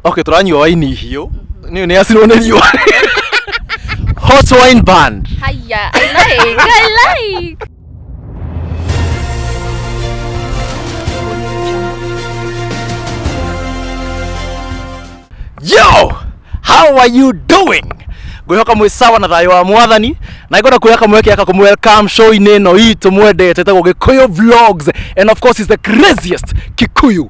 okay turanyua waini hiũ nĩ nĩ acirwo nĩ riũa hot wine band Hiya, I like, I like. yo how are you doing ngwihoka mwĩ sawa na thayũ wa mwathani na ngona kuoya kamweke aka kumwelcome show-inĩ ĩno itũ mwendete tagwo gĩkũyũ vlogs and of course is the craziest kikuyu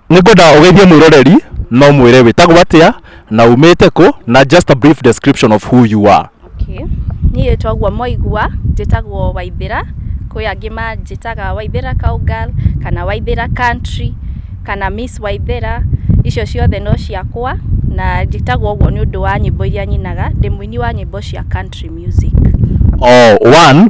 Nĩngwenda ũgeithie mwĩroreri na ũmwĩre wĩtagwo atĩa na umĩte kũ na just a brief description of who you are. Okay. Niĩ twaguo moigua njĩtagwo Waithĩra, kwĩ angĩ manjĩtaga Waithĩra cowgirl kana Waithĩra country kana Miss Waithĩra, icio ciothe no ciakwa na njĩtagwo ũguo nĩ ũndũ wa nyĩmbo iria nyinaga, ndĩ mũini wa nyĩmbo cia country music. Oh, one,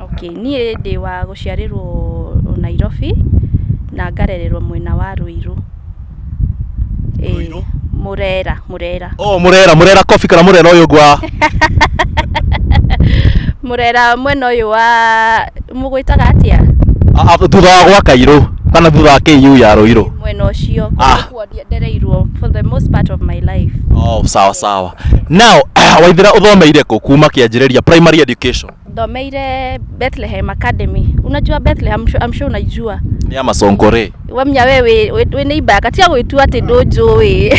Okay, niĩ ndĩ wa gũciarĩrwo Nairobi, na ngarererwo mwena wa Rũirũ. Ĩĩ, Rũirũ? Mũrera, Mũrera. Oh, Murera, Murera Coffee kana Murera uyu ungi wa Mũrera mwena ũyũ wa mũgwĩtaga atĩa? a- a- thutha wa gwa Kairu kana thutha wa KU ya Ruiru. Mwena ũcio Ah. kũndũ kuo ndie- ndereirwo for the most part of my life. Oh, sawa sawa. Now, Waithira uthomeire ku kuma kianjiriria primary education? Thomeire Bethlehem Academy. Unajua Bethlehem, I'm sure- I'm sure unaijua. Ni ama Sonkore. Wamya wewe wĩ nĩ ibaka tia gwĩtua atĩ ndũnjũĩ.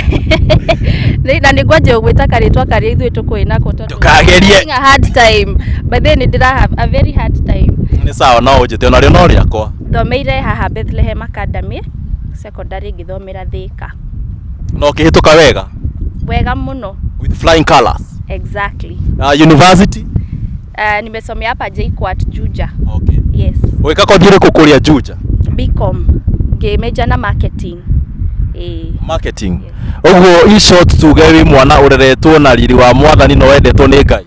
Nĩ- Na nĩ ngwanja gwĩta karĩtwa karĩa ithuĩ tũkũĩ nako tondũ- Ndũkagerie. Having a hard time. By the way, nĩ ndĩra have a very hard time. Ni sawa no unjite ona rio no riakwa. Thomeire haha Bethlehem Academy secondary ngĩthomera Thĩka. Na ũkĩhĩtũka wega? Wega mũno. With flying colors? Exactly. Na university? Uh, nimesomea hapa JKUAT Juja. Okay. Yes. Weka kothi ĩrĩkũ kũrĩa Juja? BCom. Ngĩmeja na marketing. Eh. Marketing. Ũguo in short tuge wĩ mwana ũreretwo na riri wa mwathani na wendetwo nĩ Ngai.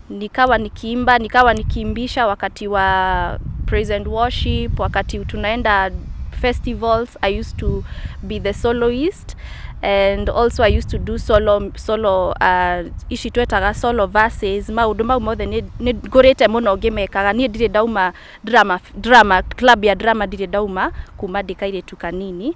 nikawa nikiimba, nikawa nikiimbisha wakati wa praise and worship, wakati tunaenda festivals, I used to be the soloist and also I used to do solo, solo uh, ici twetaga solo verses, maũndũ mau mothe nĩ nĩ ngũrĩte mũno ngĩmekaga, niĩ ndirĩ ndauma drama, drama, club ya drama ndirĩ ndauma kuma ndĩ kairĩtu kanini,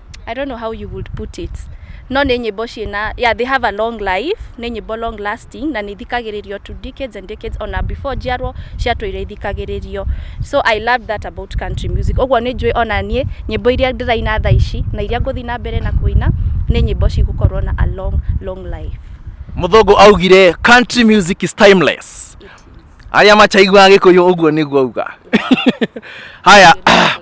I don't know how you would put it no nĩ nyĩmbo ciĩna yeah they have a long life nĩ nyĩmbo long lasting na nĩ ithikagĩrĩrio to decades and decades ona before njiarwo ciatũire ithikagĩrĩrio so I love that about country music ũguo nĩ njũĩ ona niĩ nyĩmbo iria ndĩraina thaa ici na iria ngũthiĩ na mbere na kũina nĩ nyĩmbo cigũkorwo na a long long life Mũthũngũ augire country music is timeless. It is. Arĩa machaiguaga gĩkũyũ ũguo nĩguo auga. Haya, Nĩ ndĩraglaria.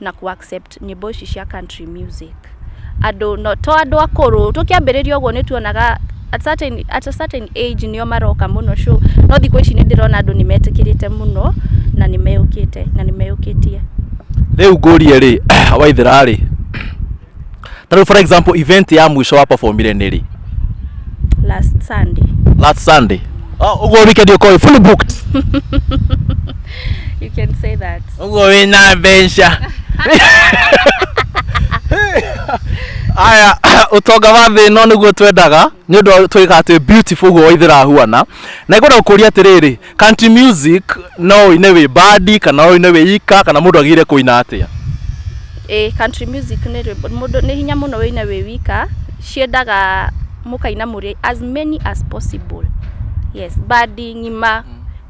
na kũ accept nyĩmbo ici cia country music andũ no, to andũ akũrũ tũkĩambĩrĩria ũguo nĩ tuonaga at certain, at a certain age nĩo maroka mũno show no thikũ ici nĩ ndĩrona andũ nĩ metĩkĩrĩte mũno na nĩ meyũkĩte na nĩ meyũkĩtie rĩu ngũrie rĩ waithĩra rĩ Tarĩu for example event ya mwisho wa performire nĩ rĩ? last sunday Last Sunday. Oh, uguo weekend uko fully booked. you can say that Uguo wina mbeca. Aya, utonga wa thĩ ĩno nĩguo twendaga nĩ ũndũ twĩkaga twĩ beautiful guo waithĩra huana na ngwenda gũkũria atĩrĩrĩ Country music no ũine wĩ bandi kana ũine wĩ ika kana mũndũ agĩrĩire kũina atĩa? Ĩĩ country music nĩ rwĩmbo mũndũ nĩ hinya mũno wĩine wĩ wika, ciendaga mũkaina mũrĩ as many as possible. Yes, bandi, ng'ima,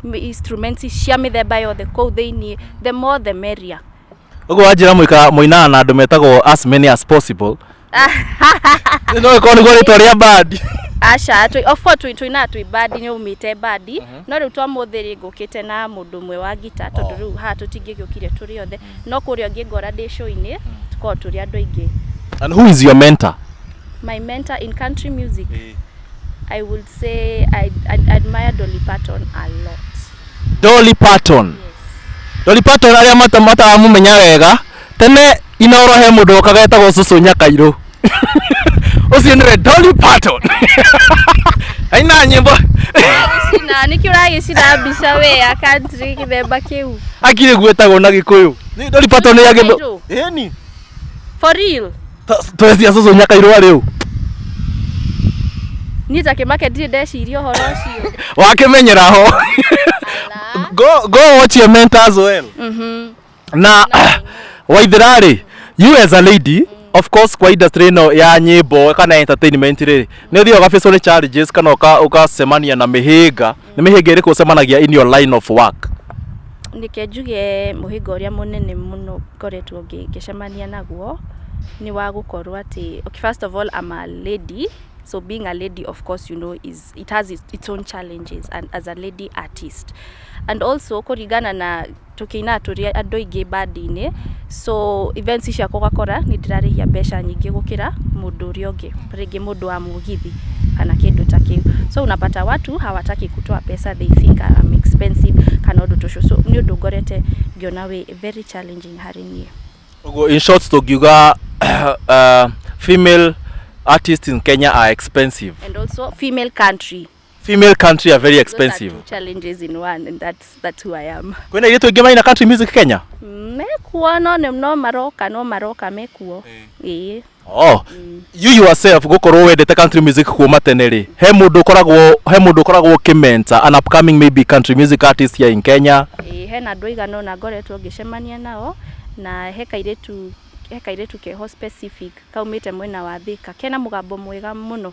m- instruments cia mĩthemba yothe kũu thĩiniĩ, the more the merrier. Ũguo wanjĩra mũika mũinaga na andũ metagwo as many as possible, no ĩkorwo nĩguo rĩtwa rĩa bandi aca tũ- of course tũ- tũinaga twĩ bandi nĩ umĩte bandi no rĩu twa mũthĩ rĩ ngũkĩte na mũndũ ũmwe wa ngita tondũ rĩu haha tũtingĩgĩũkire tũrĩ othe no kũrĩa ũngĩ ngora ndĩ show-inĩ tũkoragwo tũrĩ andũ aingĩ and who is your mentor my mentor in country music i would say i, I admire dolly parton a lot Dolly Parton Dolly Parton arĩa mata- mataramũmenya wega tene inoro he mundu okaga etagwo cucu nyakairå ucio niwe Dolly Parton aina nyimbo Cina, nĩkĩ ũragĩcina mbica we ya country gĩthemba kĩu akire gwetagwo na gikuyu ni Dolly Parton ya githu Nyakairũ. eni for real twecia cucu nyakairå arä u niĩ ta kĩmake ndirĩ ndeciria ũhoro ũcio wakimenyera ho go go watch your mentors well Mhm. na waithira rĩ you as a lady of course kwa industry ĩno ya nyĩmbo kana entertainment rĩ nĩ ũthiaga ũgabacwo nĩ challenges kana ũka- ũgacemania na mĩhĩnga nĩ mĩhĩnga ĩrĩkũ ũcemanagia in your line of work Ndeke njuge mũhĩnga ũrĩa mũnene mũno ngoretwo ngĩ- ngĩcemania naguo nĩ wa gũkorwo atĩ okay, first of all I'm a lady so being a lady of course you know is it has its, its own challenges and as a lady artist and also kũringana na tũkĩinaga tũrĩ andũ aingĩ bandi-inĩ, so events ciakwa ũgakora nĩ ndĩrarĩhia mbeca nyingĩ gũkĩra mũndũ ũrĩa ũngĩ, rĩngĩ mũndũ wa mũgithi kana kĩndũ ta kĩu. So unapata watu hawataki kutoa pesa they think I am expensive kana ũndũ ta ũcio. So nĩ ũndũ ngorete ngĩona wĩ very challenging harĩ niĩ. Ũguo in short tũngiuga uh, female artists in Kenya are expensive. And also female country female country are very Those are expensive two challenges in one and that's, that's who I am. kwena iretu ingi maina country music kenya Mekuo no nĩ no maroka no maroka mekuo. Ĩĩ. oh you yourself gukorwo wendete country music kuuma tene rĩ he mundu ukoragwo he mundu ukoragwo ukimenta an upcoming maybe country music artist here in kenya Ĩĩ, hena andũ aigana ũna ngoretwo ngĩcemania nao na he kairĩtu he kairĩtu keho specific kaumĩte mwena wa Thika kena mũgambo mwega mũno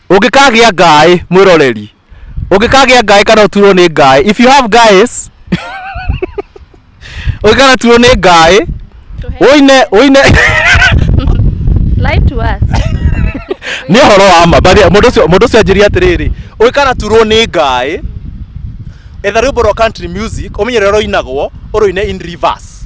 Ũngĩkagĩa ngaĩ mwĩroreri, ũngĩkagĩa ngaĩ kana ũturwo nĩ ngaĩ, if you have guys, ũngĩkana turwo nĩ ngaĩ, ũine ũine Lie to us. nĩ ũhoro wa ma bathi- mũndũ ũcio mũndũ ũcio anjĩria atĩrĩrĩ ũngĩkana turwo nĩ ngaĩ, etha rwĩmbo rwa country music ũmenye rũrĩa rũinagwo ũrũine in reverse.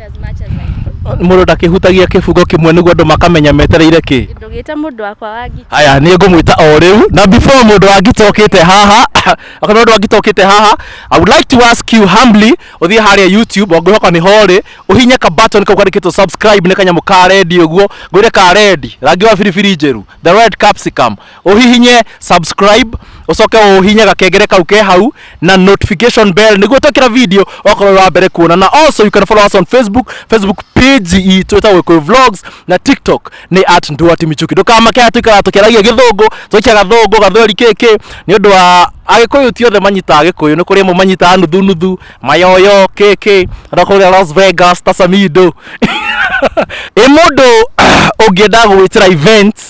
as much as I do. Mũndũ ndakĩhutagia kĩbungo kĩmwe nĩguo andũ makamenya metereire kĩ. Ndũgĩte mũndũ wakwa wa ngita. Haya, nĩ ngũmwĩta o rĩu na before mũndũ wa ngita ũkĩte haha kana mũndũ wa ngita ũkĩte haha I would like to ask you humbly ũthiĩ harĩa YouTube ongĩhoka nĩ horĩ ũhinye ka button kau kandĩkĩtwo subscribe nĩ kanyamũ ka red ũguo ngwĩre ka red rangi wa biribiri njerũ the red capsicum uhihinye subscribe ucoke uhihinye gakengere kau ke hau na notification bell niguo twekira video okorwo wa mbere kuona na also you can follow us on facebook facebook page itũ ĩtagwo Gĩkũyũ vlogs na tiktok nĩ at nduati michuki ndũkamake atĩ kana tũkĩaragia gĩthũngũ tũikia gathũngũ gathweri kĩkĩ nĩ ũndũ wa agĩkũyũ ti othe manyitaga gĩkũyũ nĩ kũrĩ amwe manyitaga nuthu nuthu mayoyo kĩkĩ na kũrĩa las vegas tasamido ĩ mũndũ ũngĩenda gwĩtĩra events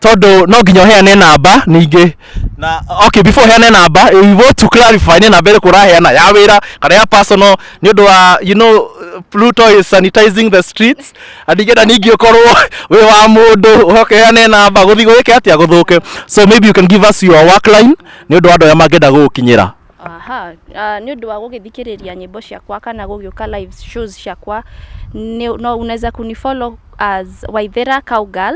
tondũ no nginya ũheane namba ningĩ na okay before ũheane namba we want to clarify nĩ namba ĩrĩkũ ũraheana ya wĩra kana ya personal nĩ ũndũ wa you know Pluto is sanitizing the streets na ningĩenda ningĩ ũkorwo wĩ wa mũndũ ũhoke ũheane namba gũthiĩ gwĩke atĩa gũthũke so maybe you can give us your work line nĩ ũndũ wa andũ arĩa mangĩenda gũgũkinyĩra aha ah, nĩ ũndũ wa gũgĩthikĩrĩria nyĩmbo ciakwa kana gũgĩũka live shows ciakwa nĩ- no unaweza kunifollow as waithera cowgirl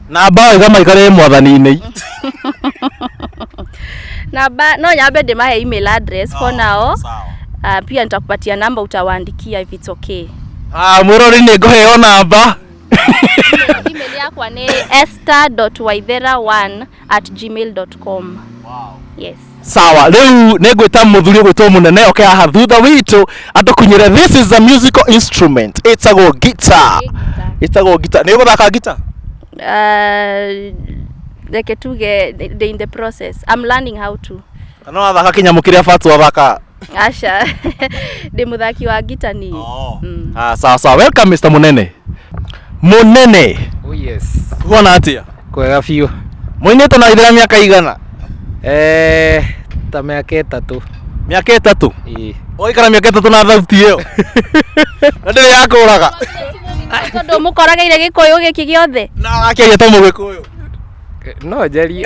na mbaũ igamaikare mwathani-inĩ namba no nyambe ndimahe email address for now uh, pia nitakupatia namba utawaandikia if it's okay Ah, mwĩrori nĩ ngũheo namba email yakwa nĩ esther.waithera1 at gmail.com yes sawa rĩu nĩ ngwĩta mũthuri ũgwĩtwo mũnene oke haha thutha witũ atũkunyĩre this is a musical instrument ĩtagwo guitar ĩtagwo guitar nĩ ũgũthaka guitar Ah, reke tuge they in the process i'm learning how to na no wathaka kĩnyamũ kĩrĩa batu athaka aca ndä må thaki wa ngita niä Ah, sawa sawa welcome mr munene munene Oh yes. kuona atia Kwega biũ. muinite na ithira miaka igana Eh, ta mĩaka ĩtatũ. miaka itatu Ĩĩ. oikara miaka itatu na thauti iyo na ndiri yakuraga tondå må korageire gä kå yå gä kä gä othe na akeria to mugikuyu No njarie.